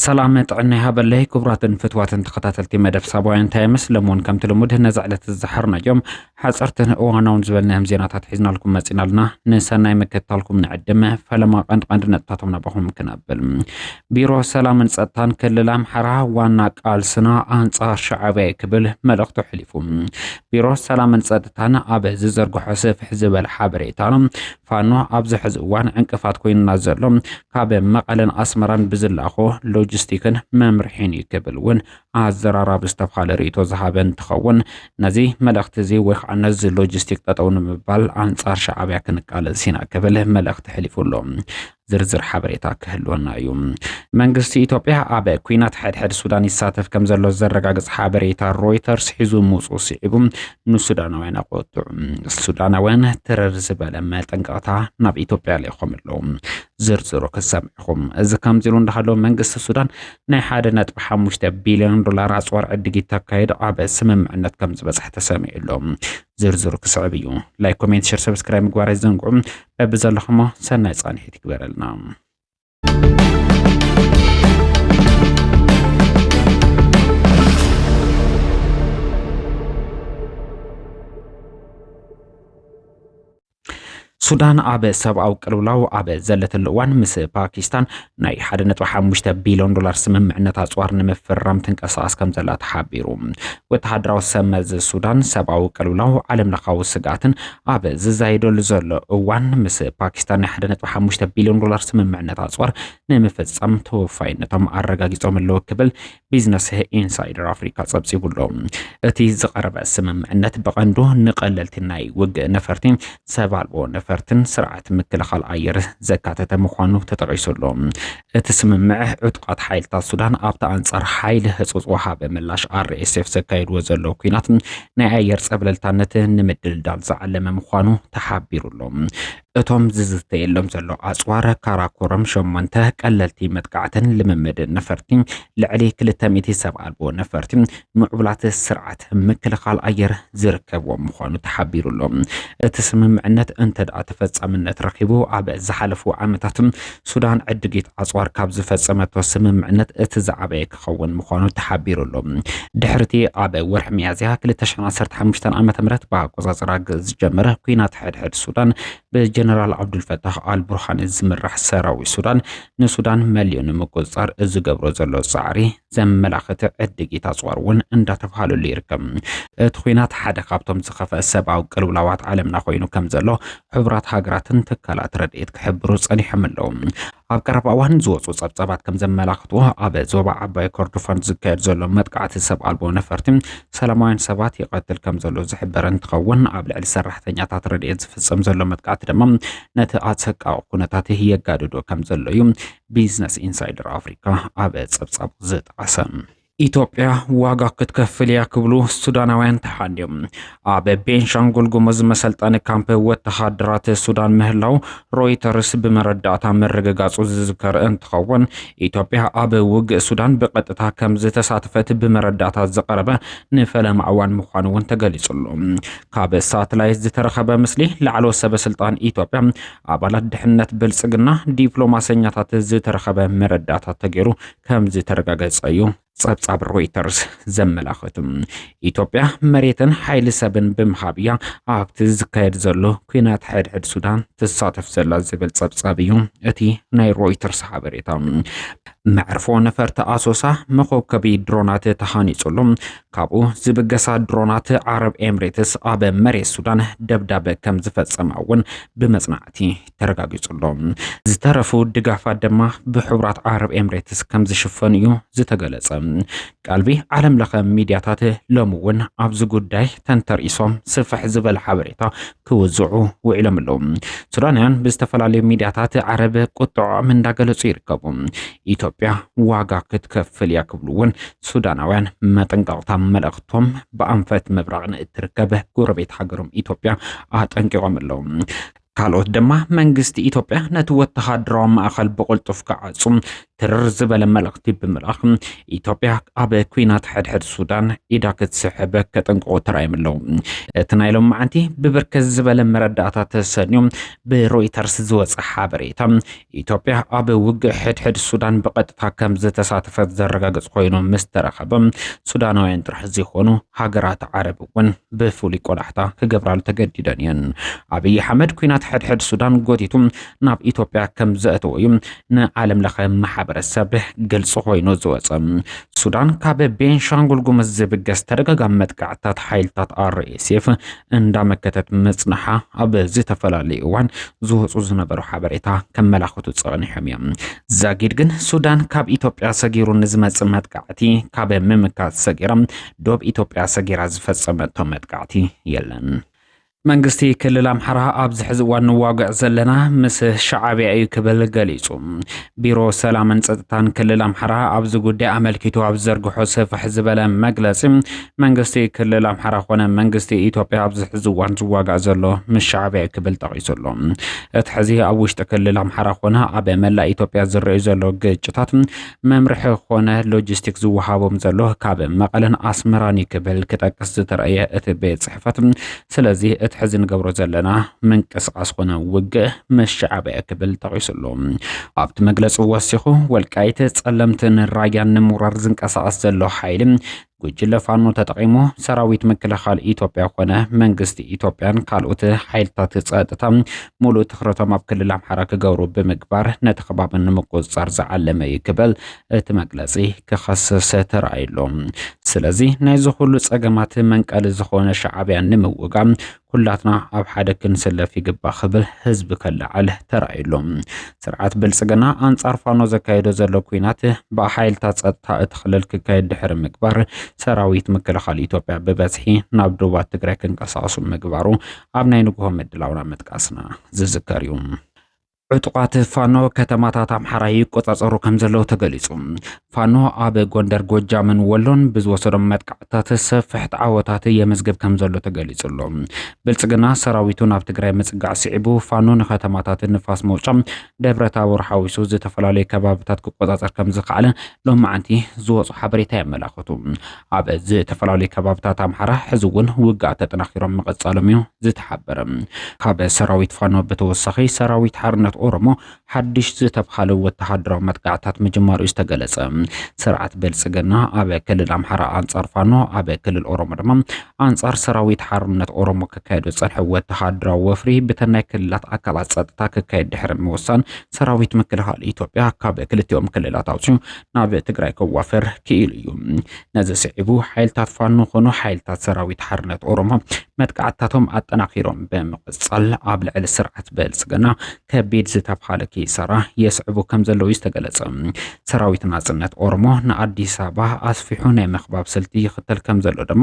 ሰላም ጥዕና ይሃበለይ ክቡራትን ፍትዋትን ተኸታተልቲ መደብ ሳባውያን ታይምስ ለሞን ከምቲ ልሙድ ነዚ ዕለት ዝሓርናዮም ሓጸርትን እዋናውን ዝበልናዮም ዜናታት ሒዝናልኩም መጺና ኣለና። ንሰናይ ምክትታልኩም ንዕድም። ፈለማ ቀንዲ ቀንዲ ነጥብታቶም ናባኹም ክነብል። ቢሮ ሰላምን ጸጥታን ክልል ኣምሓራ ዋና ቃልስና ኣንጻር ሻዕብያ ክብል መልእኽቱ ኣሕሊፉ። ቢሮ ሰላምን ጸጥታን ኣብ ዝዘርግሖ ስፍሕ ዝበለ ሓበሬታ ፋኖ ኣብዚ ሕዚ እዋን ዕንቅፋት ኮይኑና ዘሎ ካብ መቐለን ኣስመራን ብዝላኾ ሎጂስቲክን መምርሒን እዩ ክብል እውን ኣዘራራቢ ዝተብሃለ ርእይቶ ዝሃበ እንትኸውን፣ ነዚ መልእኽቲ እዚ ወይ ከዓ ነዚ ሎጂስቲክ ጠጠው ንምባል ኣንፃር ሻዕብያ ክንቃለስ ኢና ክብል መልእኽቲ ሕሊፉ ኣሎ። ዝርዝር ሓበሬታ ክህልወና እዩ። መንግስቲ ኢትዮጵያ ኣብ ኲናት ሕድሕድ ሱዳን ይሳተፍ ከም ዘሎ ዘረጋግፅ ሓበሬታ ሮይተርስ ሒዙ ምውፅኡ ስዒቡ ንሱዳናውያን ኣቆጥዑ። ሱዳናውያን ትረር ዝበለ መጠንቀቕታ ናብ ኢትዮጵያ ልኢኾም ኣለዉ። ዝርዝሩ ክሰምዕኹም። እዚ ከምዚ ኢሉ እንዳሃለወ መንግስቲ ሱዳን ናይ ሓደ ነጥቢ ሓሙሽተ ቢልዮን ዶላር ኣፅዋር ዕድጊት ተካይድ ዓበ ስምምዕነት ከም ዝበፅሐ ተሰሚዑ ኣሎ። ዝርዝሩ ክስዕብ እዩ። ላይክ፣ ኮሜንት፣ ሸር፣ ሰብስክራይብ ምግባር ኣይዘንግዑ። በቢ ዘለኹሞ ሰናይ ፃንሒት ይግበረልና። ሱዳን ኣብ ሰብኣዊ ቅልውላው ኣብ ዘለተሉ እዋን ምስ ፓኪስታን ናይ 1.5 ቢልዮን ዶላር ስምምዕነት ኣፅዋር ንምፍራም ትንቀሳቐስ ከም ዘላ ተሓቢሩ። ወተሃደራዊ ሰብ መዚ ሱዳን ሰብኣዊ ቅልውላው ዓለም ለኻዊ ስግኣትን ኣብ ዝዛየደሉ ዘሎ እዋን ምስ ፓኪስታን ናይ 1.5 ቢልዮን ዶላር ስምምዕነት ኣፅዋር ንምፍፃም ተወፋይነቶም ኣረጋጊፆም ኣለዉ ክብል ቢዝነስ ኢንሳይደር ኣፍሪካ ፀብፂቡሎ። እቲ ዝቐረበ ስምምዕነት ብቐንዱ ንቐለልቲ ናይ ውግእ ነፈርቲ፣ ሰብ ኣልቦ ነፈርትን ስርዓት ምክልኻል ኣየር ዘካተተ ምዃኑ ተጠቒሱሎ። እቲ ስምምዕ ዕጡቓት ሓይልታት ሱዳን ኣብቲ ኣንጻር ሓይሊ ህጹጽ ወሃቢ ምላሽ RSF ዘካየድዎ ዘለዉ ኲናት ናይ ኣየር ጸብለልታነት ንምድልዳል ዝዓለመ ምዃኑ ተሓቢሩሎ። እቶም ዝዝተየሎም ዘሎ ኣጽዋር ካራኮረም ሸሞንተ ቀለልቲ መጥቃዕትን ልምምድ ነፈርቲ ልዕሊ ክልተ ሚእቲ ሰብ ኣልቦ ነፈርቲ ምዕቡላት ስርዓት ምክልኻል ኣየር ዝርከብዎም ምዃኑ ተሓቢሩ ኣሎ። እቲ ስምምዕነት እንተደኣ ተፈጻምነት ረኺቡ ኣብ ዝሓለፉ ዓመታት ሱዳን ዕድጊት ኣጽዋር ካብ ዝፈጸመቶ ስምምዕነት እቲ ዝዓበየ ክኸውን ምዃኑ ተሓቢሩ ኣሎ። ድሕርቲ ኣብ ወርሒ ሚያዝያ ክልተ ሽሕን ዓሰርተ ሓሙሽተን ዓመተ ምህረት ብኣቆጻጽራ ግእዝ ዝጀመረ ኲናት ሕድሕድ ሱዳን ብጀነራል ዓብዱልፈታሕ ኣልቡርሃን ዝምራሕ ሰራዊት ሱዳን ንሱዳን መሊኡ ንምቁጽጻር ዝገብሮ ዘሎ ጻዕሪ ዘመላኽት ዕድጊት ኣጽዋር እውን እንዳተባሃለሉ ይርከብ። እቲ ኲናት ሓደ ካብቶም ዝኸፍአ ሰብኣዊ ቅልውላዋት ዓለምና ኮይኑ ከምዘሎ ሕቡራት ሃገራትን ትካላት ረድኤት ክሕብሩ ጸኒሖም ኣለዉ። ኣብ ቀረባ እዋን ዝወጹ ጸብጻባት ከም ዘመላኽትዎ ኣብ ዞባ ዓባይ ኮርዶፋን ዝካየድ ዘሎ መጥቃዕቲ ሰብ ኣልቦ ነፈርቲ ሰላማውያን ሰባት ይቐትል ከም ዘሎ ዝሕበር እንትኸውን ኣብ ልዕሊ ሰራሕተኛታት ረድኤት ዝፍጸም ዘሎ መጥቃዕቲ ድማ ነቲ ኣሰቃቂ ኩነታት የጋድዶ ከም ዘሎ እዩ ቢዝነስ ኢንሳይደር ኣፍሪካ ኣብ ጸብጻቡ ዝጠቐሰ። ኢትዮጵያ ዋጋ ክትከፍል እያ ክብሉ ሱዳናውያን ተሓንዮም ኣብ ቤንሻንጉል ጉሙዝ መሰልጠኒ ካምፕ ወተሃደራት ሱዳን ምህላው ሮይተርስ ብመረዳእታ ምርግጋጹ ዝዝከር እንትኸውን ኢትዮጵያ ኣብ ውግእ ሱዳን ብቐጥታ ከም ዝተሳተፈት ብመረዳእታ ዝቐረበ ንፈለማ እዋን ምዃኑ እውን ተገሊጹሉ ካብ ሳትላይት ዝተረኸበ ምስሊ ላዕሎ ሰበስልጣን ኢትዮጵያ ኣባላት ድሕነት ብልጽግና ዲፕሎማሰኛታት ዝተረኸበ መረዳእታ ተገይሩ ከም ዝተረጋገጸ እዩ ጸብጻብ ሮይተርስ ዘመላኸቱ። ኢትዮጵያ መሬትን ሓይሊ ሰብን ብምሃብ እያ ኣብቲ ዝካየድ ዘሎ ኩናት ሕድሕድ ሱዳን ትሳተፍ ዘላ ዝብል ጸብጻብ እዩ እቲ ናይ ሮይተርስ ሓበሬታ። መዕርፎ ነፈርቲ ኣሶሳ መኮብከቢ ድሮናት ተሃኒጹሉ ካብኡ ዝብገሳ ድሮናት ዓረብ ኤምሬትስ ኣብ መሬት ሱዳን ደብዳበ ከም ዝፈጸማ እውን ብመጽናዕቲ ተረጋጊጹ ኣሎ። ዝተረፉ ድጋፋት ድማ ብሕቡራት ዓረብ ኤምሬትስ ከም ዝሽፈኑ እዩ ዝተገለጸ። ቀልቢ ዓለም ለኸ ሚድያታት ሎሚ እውን ኣብዚ ጉዳይ ተንተርኢሶም ስፍሕ ዝበለ ሓበሬታ ክውዝዑ ውዒሎም ኣለዉ። ሱዳናውያን ብዝተፈላለዩ ሚድያታት ዓረብ ቁጥዖም እንዳገለጹ ይርከቡ። ኢትዮጵያ ዋጋ ክትከፍል እያ ክብሉ እውን ሱዳናውያን መጠንቀቕታ መልእኽቶም ብኣንፈት ምብራቕ ንእትርከብ ጎረቤት ሃገሮም ኢትዮጵያ ኣጠንቂቖም ኣለዉ። ካልኦት ድማ መንግስቲ ኢትዮጵያ ነቲ ወተሃደራዊ ማእኸል ብቕልጡፍ ክዓጹ ትርር ዝበለ መልእኽቲ ብምልኣኽ ኢትዮጵያ ኣብ ኩናት ሕድሕድ ሱዳን ኢዳ ክትስሕብ ከጠንቅቑ ተራእዮም ኣለዉ። እቲ ናይ ሎም መዓንቲ ብብርክት ዝበለ መረዳእታ ተሰንዩ ብሮይተርስ ዝወፀ ሓበሬታ ኢትዮጵያ ኣብ ውግእ ሕድሕድ ሱዳን ብቐጥታ ከም ዝተሳተፈት ዘረጋግጽ ኮይኑ ምስ ተረኸበ ሱዳናውያን ጥራሕ ዘይኮኑ ሃገራት ዓረብ እውን ብፍሉይ ቆላሕታ ክገብራሉ ተገዲደን እየን። ኣብይ ኣሕመድ ኩናት ሕድሕድ ሱዳን ጎቲቱ ናብ ኢትዮጵያ ከም ዘእተዎ እዩ ንዓለም ለኸ ማሕበረሰብ ግልፂ ኮይኑ ዝወፀ። ሱዳን ካብ ቤንሻንጉል ጉምዝ ዝብገስ ተደጋጋሚ መጥቃዕትታት ሓይልታት RSF እንዳመከተት ምጽናሓ ኣብ ዝተፈላለዩ እዋን ዝወጹ ዝነበሩ ሓበሬታ ከመላኽቱ ጸኒሖም እዮም። ዛጊድ ግን ሱዳን ካብ ኢትዮጵያ ሰጊሩ ንዝመጽእ መጥቃዕቲ ካብ ምምካት ሰጊራ ዶብ ኢትዮጵያ ሰጊራ ዝፈጸመቶ መጥቃዕቲ የለን። መንግስቲ ክልል ኣምሓራ ኣብዚ ሕዚ እዋን ንዋግዕ ዘለና ምስ ሸዓብያ እዩ ክብል ገሊጹ። ቢሮ ሰላምን ጸጥታን ክልል ኣምሓራ ኣብዚ ጉዳይ ኣመልኪቱ ኣብ ዘርግሖ ስፍሕ ዝበለ መግለጺ መንግስቲ ክልል ኣምሓራ ኮነ መንግስቲ ኢትዮጵያ ኣብዚ ሕዚ እዋን ዝዋጋእ ዘሎ ምስ ሻዕብያ እዩ ክብል ጠቒሱ ኣሎ። እቲ ሕዚ ኣብ ውሽጢ ክልል ኣምሓራ ኮነ ኣብ መላእ ኢትዮጵያ ዝረኣዩ ዘሎ ግጭታት መምርሒ ኮነ ሎጂስቲክ ዝወሃቦም ዘሎ ካብ መቐለን ኣስመራን እዩ ክብል ክጠቅስ ዝተረእየ እቲ ቤት ፅሕፈት ስለዚ እቲ ሕዚ ንገብሮ ዘለና ምንቅስቓስ ኮነ ውግእ ምስ ሻዕብያ ክብል ጠቒሱ ኣሎ። ኣብቲ መግለፂ ወሲኹ ወልቃይት፣ ፀለምትን ራያን ንምውራር ዝንቀሳቐስ ዘሎ ሓይሊ ጉጅለ ፋኖ ተጠቒሙ ሰራዊት ምክልኻል ኢትዮጵያ ኮነ መንግስቲ ኢትዮጵያን ካልኦት ሓይልታት ጸጥታ ሙሉእ ትኹረቶም ኣብ ክልል ኣምሓራ ክገብሩ ብምግባር ነቲ ከባቢ ንምቁፅፃር ዝዓለመ እዩ ክብል እቲ መግለፂ ክኸስስ ተራእዩሎም። ስለዚ ናይዚ ኩሉ ጸገማት መንቀሊ ዝኾነ ሻዕብያ ንምውጋም ኩላትና ኣብ ሓደ ክንስለፍ ይግባእ ክብል ህዝቢ ከለዓዕል ተራእዩ ኣሎ። ስርዓት ብልፅግና ኣንፃር ፋኖ ዘካየዶ ዘሎ ኩናት ብሓይልታት ፀጥታ እቲ ክልል ክካየድ ድሕሪ ምግባር ሰራዊት ምክልኻል ኢትዮጵያ ብበዝሒ ናብ ዶባት ትግራይ ክንቀሳቀሱ ምግባሩ ኣብ ናይ ንግሆ ምድላውና ምጥቃስና ዝዝከር እዩ። ዕጡቓት ፋኖ ከተማታት ኣምሓራ ይቆጻጸሩ ከም ዘለዉ ተገሊጹ። ፋኖ ኣብ ጎንደር፣ ጎጃምን ወሎን ብዝወሰዶም መጥቃዕትታት ሰፍሕቲ ዓወታት የመዝግብ ከም ዘሎ ተገሊጹ ኣሎ። ብልጽግና ሰራዊቱ ናብ ትግራይ ምጽጋዕ ስዒቡ ፋኖ ንከተማታት ንፋስ መውጫ፣ ደብረ ታቦር ሓዊሱ ዝተፈላለዩ ከባብታት ክቆጻጸር ከም ዝኸኣለ ሎማዕንቲ ዝወጹ ሓበሬታ የመላኽቱ። ኣብ ዝተፈላለዩ ከባብታት ኣምሓራ ሕዚ እውን ውግኣት ተጠናኺሮም ምቕጻሎም እዩ ዝተሓበረ። ካብ ሰራዊት ፋኖ ብተወሳኺ ሰራዊት ሓርነት ኦሮሞ ሓድሽ ዝተብሃለ ወተሃደራዊ መጥቃዕታት ምጅማሩ እዩ ዝተገለጸ። ስርዓት ብልጽግና ኣብ ክልል ኣምሓራ ኣንጻር ፋኖ፣ ኣብ ክልል ኦሮሞ ድማ ኣንጻር ሰራዊት ሓርነት ኦሮሞ ክካየድ ዝጸንሐ ወተሃደራዊ ወፍሪ ብተን ናይ ክልላት ኣካላት ጸጥታ ክካየድ ድሕሪ ምውሳን ሰራዊት ምክልኻል ኢትዮጵያ ካብ ክልቲኦም ክልላት ኣውጺኡ ናብ ትግራይ ከዋፍር ክኢሉ እዩ። ነዚ ስዒቡ ሓይልታት ፋኖ ኾኑ ሓይልታት ሰራዊት ሓርነት ኦሮሞ መጥቃዕትታቶም ኣጠናኺሮም ብምቕጻል ኣብ ልዕሊ ስርዓት ብልጽግና ከቢድ ዝተብሃለ ኪሳራ የስዕቡ ከም ዘለዉ እዩ ዝተገለጸ። ሰራዊት ናጽነት ኦሮሞ ንኣዲስ ኣበባ ኣስፊሑ ናይ ምኽባብ ስልቲ ይኽተል ከም ዘሎ ድማ